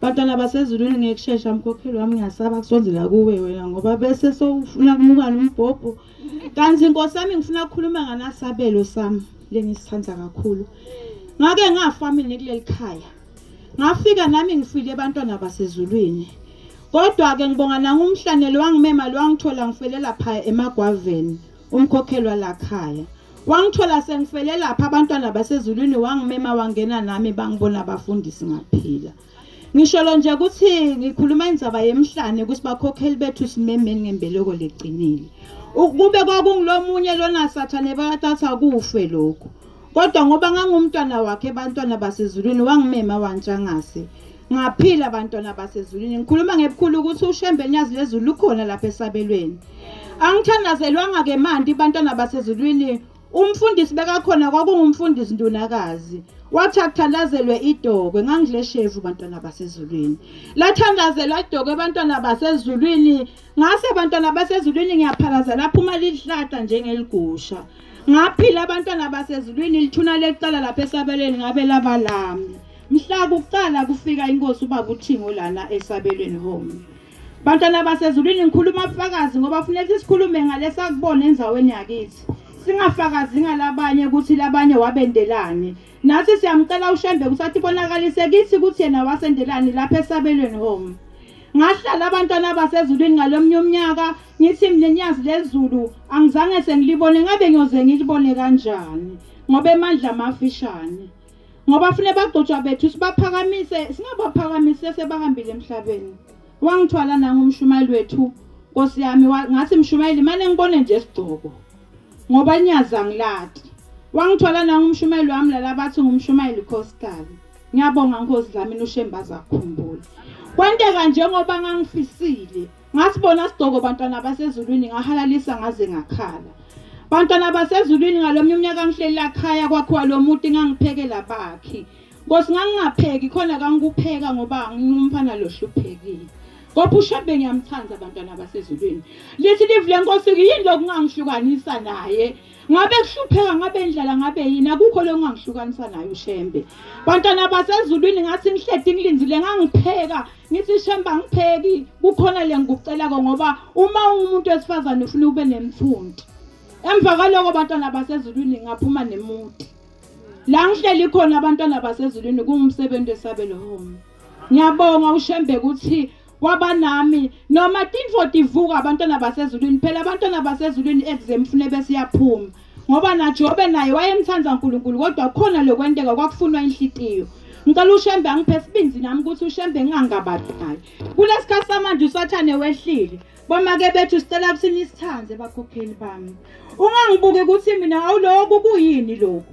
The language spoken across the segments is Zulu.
Bantwana basezulwini ngekushesha mkhokheli wami ngiyasaba kusondela kuwe wena ngoba bese sowufuna kumuka nombhobho. Kanti Nkosi yami ngifuna ukukhuluma nganasabelo sami lengisithanda kakhulu. Ngake ngafa mina kuleli khaya. Ngafika nami ngifile abantwana basezulwini. Kodwa-ke ngibonga nangumhlanelo wangimema lwangithola ngifelela phaya emagwaveni umkhokhelwa lakhaya. Wangithola sengifele lapha abantwana basezulwini wangimema wangena nami bangibona abafundisi ngaphila. Ngisholo nje ukuthi ngikhuluma indzaba yemhlane ukuthi bakhokheli bethu simemeni ngembeleko legcinile. Ukube kwakungilomunye lona sathane bakathatha kufe lokho. Kodwa ngoba ngangumntwana wakhe bantwana basezulwini wangimema wantshangase. Ngaphila abantwana basezulwini. Ngikhuluma ngebukhulu ukuthi uShembe Nyazi lezulu lukhona lapha esabelweni. Angithandazelwanga ke manje abantwana basezulwini. Umfundisi bekakhona kwakungumfundisi Ndunakazi. Wathi akuthandazelwe idokwe ngangidle shevu bantwana basezulwini. Lathandazelwa idokwe bantwana basezulwini. Ngase bantwana basezulwini ngiyaphalaza lapho uma lihlata njengeligusha. Ngaphila abantwana basezulwini lithuna lecala lapha esabelweni ngabe labalami. Mhla kuqala kufika inkosi ubaba uThingo lana esabelweni home. Bantwana basezulwini ngikhuluma ubufakazi ngoba kufuneka sikhulume ngalesa kubona enzaweni yakithi. Singafakazi ngalabanye ukuthi labanye wabendelani. Nathi siyamcela uShembe ukuthi athi bonakalise kithi ukuthi yena wasendelani lapha esabelweni home. Ngahlala abantwana basezulwini ngalomnye umnyaka ngithi mina nyazi lezulu angizange sengilibone ngabe ngiyoze ngilibone kanjani ngoba emandla amafishane. ngoba fune bagcotshwa bethu sibaphakamise singabaphakamise sebahambile emhlabeni wangithwala nangumshumayeli wethu nkosi yami ngathi mshumayeli mane ngibone nje sigcoko ngoba nyazi angilati wangithwala nangumshumayeli wami lala bathi ngumshumayeli khosikazi ngiyabonga nkosi dlamini ushembaza akhumbule kwenteka njengoba ngangifisile Ngasibona sidoko bantwana basezulwini ngahalalisa ngaze ngakhala. Bantwana basezulwini ngalomnye umnyaka ngihlelela khaya kwakhiwa lo muti ngangiphekela bakhi. Nkosi ngangingapheki khona kangikupheka ngoba ngingumfana lohluphekile. Kodwa uShembe ngiyamthanda abantwana basezulwini. Lithi livule Nkosi yini lokungangihlukanisa naye. ngabe kuhlupheka ngabe indlala ngabe yini akukho lo ngangihlukanisa nayo ushembe bantwana basezulwini ngathi ngihledi ngilindile ngangipheka ngithi shembe angipheki kukhona le ngikucelako ngoba uma ungumuntu wesifazane ufuna ube nemfundi emva kwaloko bantwana basezulwini ngaphuma nemuti la ngihleli khona abantwana basezulwini kungumsebenzi wesabelo home ngiyabonga ushembe ukuthi kwaba nami noma tinfo tivuka abantwana basezulwini phela abantwana basezulwini exam fune besiyaphuma ngoba naJobe naye wayemthanda uNkulunkulu kodwa khona lokwenteka kwakufunwa inhlitiyo ngicela ushembe angiphe sibindi nami ukuthi ushembe ngingangabathi naye kulesikhathi samanje usathane wehlile bamake bethu sicela ukuthi nisithande bakhokheli bami ungangibuki ukuthi mina awuloko kuyini lokho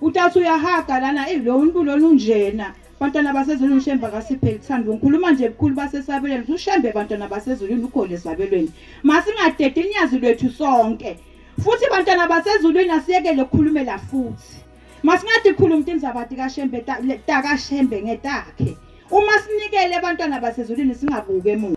Uthatha uyahaga lana eyi lo muntu lona unjena. Bantwana basezulwini uShembe akasipheli thando. Ngikhuluma nje bukhulu basesabelweni. UShembe bantwana basezulwini ukhona esabelweni. Masingadedi inyazi lwethu sonke. Futhi bantwana basezulwini asiyekele ukukhulumela futhi. Masingade khuluma into indaba kaShembe taka Shembe ngetakhe. Uma sinikele abantwana basezulwini singabuke emuva.